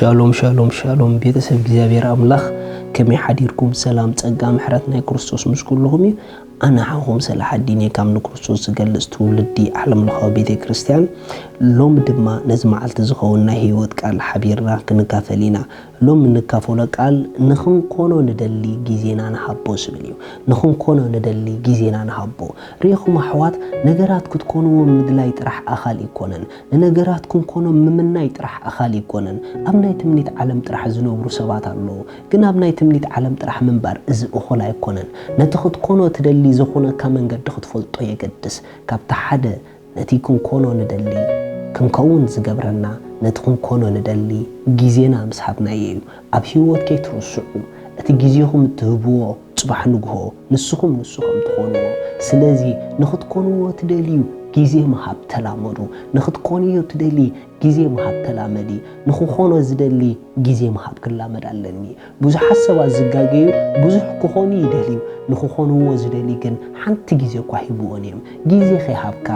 ሻሎም ሻሎም ሻሎም ቤተሰብ እግዚኣብሔር ኣምላኽ ከመይ ሓዲርኩም ሰላም ጸጋ ምሕረት ናይ ክርስቶስ ምስ ኩልኹም እዩ ኣነ ሓኹም ስለ ሓዲኔ ካብ ንክርስቶስ ዝገልጽ ትውልዲ ዓለም ለኻዊ ቤተ ክርስቲያን ሎሚ ድማ ነዚ መዓልቲ ዝኸውን ናይ ህይወት ቃል ሓቢርና ክንካፈል ኢና ሎሚ እንካፈሎ ቃል ንኽንኮኖ ንደሊ ግዜና ንሃቦ ዝብል እዩ። ንኽንኮኖ ንደሊ ግዜና ንሃቦ። ርኢኹም ኣሕዋት ነገራት ክትኮንዎም ምድላይ ጥራሕ ኣኻሊ ኣይኮነን። ንነገራት ክንኮኖም ምምናይ ጥራሕ ኣኻሊ ኣይኮነን። ኣብ ናይ ትምኒት ዓለም ጥራሕ ዝነብሩ ሰባት ኣለዉ። ግን ኣብ ናይ ትምኒት ዓለም ጥራሕ ምንባር እዚ እኹል ኣይኮነን። ነቲ ክትኮኖ ትደሊ ዘኹነካ መንገዲ ክትፈልጦ የገድስ። ካብቲ ሓደ ነቲ ክንኮኖ ንደሊ ክንከውን ዝገብረና ነቲ ክንኮኖ ንደሊ ግዜና ምስ ሃብናዮ እዩ ኣብ ሂወት ከይትርስዑ እቲ ግዜኹም እትህብዎ ጽባሕ ንግሆ ንስኹም ንሱ ከም ትኾንዎ ስለዚ ንኽትኮንዎ ትደልዩ ግዜ ምሃብ ተላመዱ ንኽትኮንዮ ትደሊ ግዜ ምሃብ ተላመዲ ንኽኾኖ ዝደሊ ግዜ ምሃብ ክላመድ ኣለኒ ብዙሓት ሰባት ዝጋገዩ ብዙሕ ክኾኑ ይደልዩ፣ ንኽኾንዎ ዝደልዩ ግን ሓንቲ ግዜ እኳ ሂብወን እዮም። ግዜ ከይሃብካ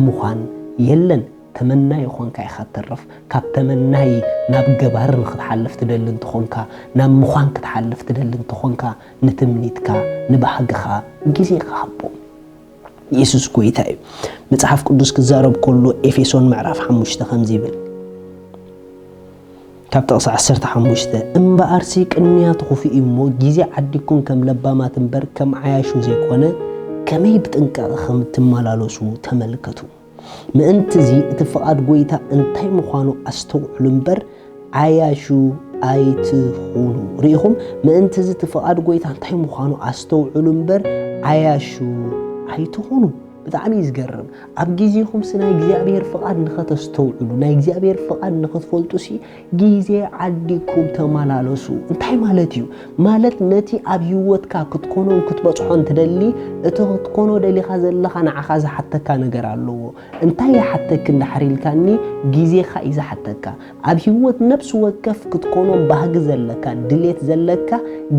ምዃን የለን። ተመናዪ ኾንካ ኢኻ ትተርፍ። ካብ ተመናዪ ናብ ገባሪ ንኽትሓልፍ ትደሊ እንተኾንካ፣ ናብ ምዃን ክትሓልፍ ትደሊ እንተኾንካ፣ ንትምኒትካ፣ ንባህግኻ ግዜኻ ሃቦ። የሱስ ጐይታ እዩ። መጽሓፍ ቅዱስ ክዛረብ ከሎ ኤፌሶን ምዕራፍ ሓሙሽተ ከምዚ ይብል። ካብ ጥቕሲ ዓሰርተ ሓሙሽተ፣ እምበኣርሲ ቅንያት ኹፉእ እዩ እሞ፣ ጊዜ ዓዲግኩም ከም ለባማት እምበር ከም ዓያሹ ዘይኮነ፣ ከመይ ብጥንቃቐ ኸም እትመላለሱ ተመልከቱ። ምእንት'ዚ እቲ ፍቓድ ጐይታ እንታይ ምዃኑ ኣስተውዕሉ እምበር፣ ዓያሹ ኣይትኹኑ። ርኢኹም? ምእንት'ዚ እቲ ፍቓድ ጐይታ እንታይ ምዃኑ ኣስተውዕሉ እምበር፣ ዓያሹ ኣይትኹኑ። ብጣዕሚ እዩ ዝገርም። ኣብ ግዜኹምሲ ናይ እግዚኣብሔር ፍቓድ ንኸተስተውዕሉ ናይ እግዚኣብሔር ፍቓድ ንኽትፈልጡሲ ግዜ ዓዲግኩም ተመላለሱ እንታይ ማለት እዩ ማለት ነቲ ኣብ ህይወትካ ክትኮኖን ክትበጽሖን ትደሊ እቲ ክትኮኖ ደሊኻ ዘለኻ ንዓኻ ዝሓተካ ነገር ኣለዎ እንታይ ይሓተክ እንዳሕር ኢልካኒ ግዜኻ እዩ ዝሓተካ ኣብ ሂወት ነብሲ ወከፍ ክትኮኖም ባህጊ ዘለካ ድሌት ዘለካ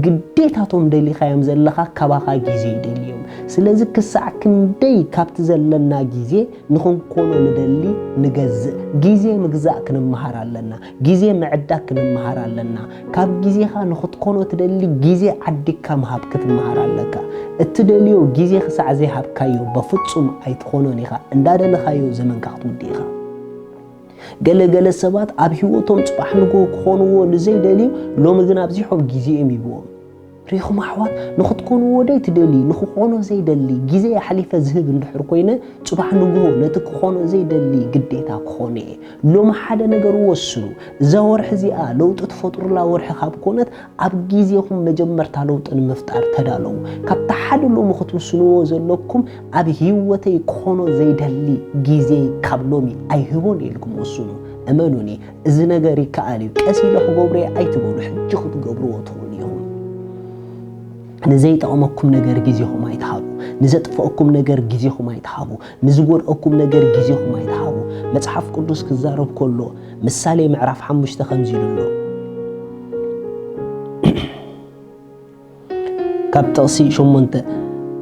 ግዴታ እቶም ደሊኻዮም ዘለኻ ካባኻ ግዜ ይደልዩ እዮም ስለዚ ክሳዕ ክንደይ ካብቲ ዘለና ግዜ ንኽንኮኖ ንደሊ ንገዝእ ግዜ ምግዛእ ክንመሃር ኣለና ግዜ ምዕዳግ ክንመሃር ኣለና ካብ ግዜኻ ንኽትኮኖ ትደሊ ግዜ ዓዲግካ ምሃብ ክትመሃር ኣለካ እትደልዮ ግዜ ክሳዕ ዘይሃብካዮ በፍጹም ኣይትኾኖን ኢኻ እንዳደለኻዮ ዘመንካ ክትውድእ ኢኻ። ገለ ገለ ሰባት ኣብ ህይወቶም ጽባሕ ንግሆ ክኾንዎ ንዘይደልዩ ሎሚ ግን ኣብዚሖም ግዜ እዮም ሂብዎም። ርኢኹም ኣሕዋት፣ ንኽትኮንዎ ደይ ትደልዩ፣ ንኽኾኖ ዘይደሊ ግዜ ኣሕሊፈ ዝህብ እንድሕር ኮይነ፣ ጽባሕ ንግሆ ነቲ ክኾኖ ዘይደሊ ግዴታ ክኾኖ እየ። ሎሚ ሓደ ነገር ወስኑ፣ እዛ ወርሒ እዚኣ ለውጢ ትፈጥሩላ ወርሒ ካብ ኮነት፣ ኣብ ግዜኹም መጀመርታ ለውጢ ንምፍጣር ተዳለዉ። ካብቲ ሓደ ሎሚ ክትውስንዎ ዘለኩም ኣብ ህይወተይ ክኾኖ ዘይደሊ ግዜይ ካብ ሎሚ ኣይህቦን ኢልኩም ወስኑ። እመኑኒ እዚ ነገር ይከኣል እዩ፣ ቀስ ኢለ ክገብሮ'የ ኣይትበሉ፣ ሕጂ ክትገብርዎ ትኽእሉ ኢኹም። ንዘይጠቕመኩም ነገር ግዜኹም ኣይትሃቡ፣ ንዘጥፍኣኩም ነገር ግዜኹም ኣይትሃቡ፣ ንዝጎድኣኩም ነገር ግዜኹም ኣይትሃቡ። መጽሓፍ ቅዱስ ክዛረብ ከሎ ምሳሌ ምዕራፍ ሓሙሽተ ከምዚ ኢሉ ኣሎ። ካብ ጥቕሲ ሸሞንተ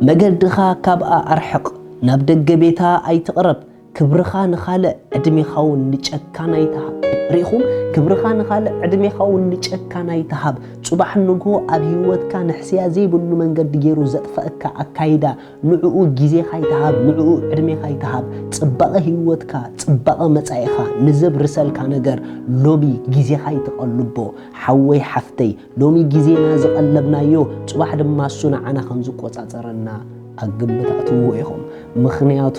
መገድኻ ካብኣ ኣርሕቕ፣ ናብ ደገ ቤታ ኣይትቕረብ፣ ክብርኻ ንኻልእ ዕድሜኻውን ንጨካን ኣይትሃብ። ርኢኹም፣ ክብርኻ ንኻልእ ዕድሜኻውን ንጨካን ኣይትሃብ። ጽባሕ ንግሆ ኣብ ህይወትካ ንሕስያ ዘይብሉ መንገዲ ገይሩ ዘጥፈኣካ ኣካይዳ፣ ንዕኡ ግዜኻ ኣይትሃብ ንዕኡ ዕድሜኻ ኣይትሃብ ጽባቐ ሂወትካ ጽባቐ መጻኢኻ ንዘብርሰልካ ነገር ሎሚ ግዜኻ ኣይትቐልቦ ሓወይ ሓፍተይ ሎሚ ግዜና ዝቐለብናዮ ጽባሕ ድማ እሱ ንዓና ከም ዝቆጻጸረና ኣብ ግምት ኣእትውዎ ኢኹም ምኽንያቱ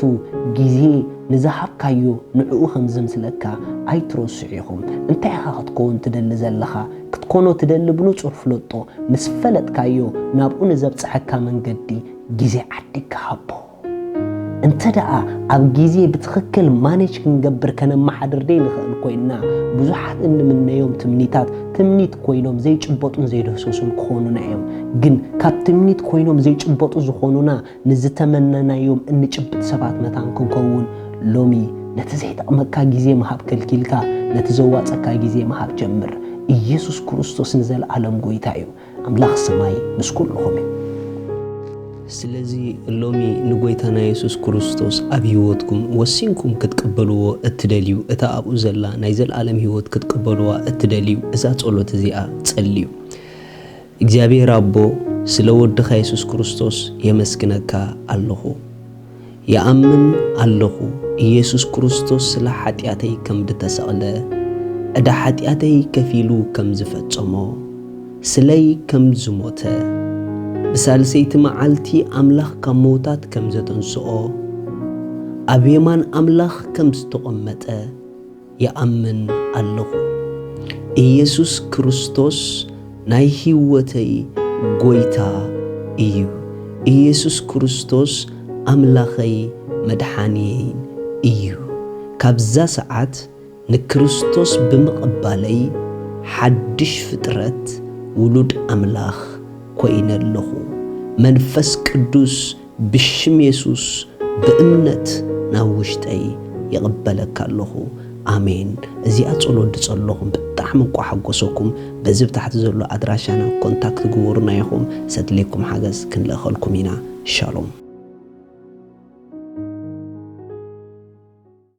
ግዜ ንዝሃብካዮ ንዕኡ ከም ዘምስለካ ኣይትረስዑ ኢኹም እንታይ ኢኻ ክትከውን ትደሊ ዘለኻ ክትኮኖ ትደሊ ብንጹር ፍለጦ፣ ምስ ፈለጥካዮ ናብኡ ንዘብጽሐካ መንገዲ ግዜ ዓዲግካ ሃቦ። እንተ ደኣ ኣብ ግዜ ብትኽክል ማኔጅ ክንገብር ከነመሓድር ዘይንኽእል ኮይንና፣ ብዙሓት እንምነዮም ትምኒታት ትምኒት ኮይኖም ዘይጭበጡን ዘይድህሰሱን ክኾኑና እዮም። ግን ካብ ትምኒት ኮይኖም ዘይጭበጡ ዝኾኑና ንዝተመነናዮም እንጭብጥ ሰባት መታን ክንከውን ሎሚ ነቲ ዘይጠቕመካ ግዜ ምሃብ ከልኪልካ ነቲ ዘዋጸካ ግዜ ምሃብ ጀምር። ኢየሱስ ክርስቶስ ንዘልኣለም ጎይታ እዩ። ኣምላኽ ሰማይ ምስ ኩልኹም እዩ። ስለዚ ሎሚ ንጎይታና የሱስ ክርስቶስ ኣብ ሕይወትኩም ወሲንኩም ክትቅበልዎ እትደልዩ እታ ኣብኡ ዘላ ናይ ዘልኣለም ሕይወት ክትቅበልዋ እትደልዩ እዛ ጸሎት እዚኣ ጸልዩ። እግዚኣብሔር ኣቦ ስለ ወድኻ የሱስ ክርስቶስ የመስግነካ ኣለኹ ይኣምን ኣለኹ ኢየሱስ ክርስቶስ ስለ ሓጢኣተይ ከም ድተሰቕለ ዕዳ ሓጢኣተይ ከፊሉ ከም ዝፈጸሞ ስለይ ከም ዝሞተ ብሳልሰይቲ መዓልቲ ኣምላኽ ካብ መውታት ከም ዘተንስኦ ኣብ የማን ኣምላኽ ከም ዝተቖመጠ ይኣምን ኣለኹ ኢየሱስ ክርስቶስ ናይ ሂወተይ ጎይታ እዩ ኢየሱስ ክርስቶስ ኣምላኸይ መድሓንየይን እዩ ካብዛ ሰዓት ንክርስቶስ ብምቕባለይ ሓድሽ ፍጥረት ውሉድ ኣምላኽ ኮይነ ኣለኹ መንፈስ ቅዱስ ብሽም የሱስ ብእምነት ናብ ውሽጠይ ይቅበለካ ኣለኩ ኣሜን እዚኣ ጸሎት ድጸለኩም ብጣዕሚ እኳ ሓጎሰኩም በዚ ብታሕቲ ዘሎ ኣድራሻና ኮንታክት ግቡሩና ኢኩም ሰድልየኩም ሓገዝ ክንልእከልኩም ኢና ሻሎም።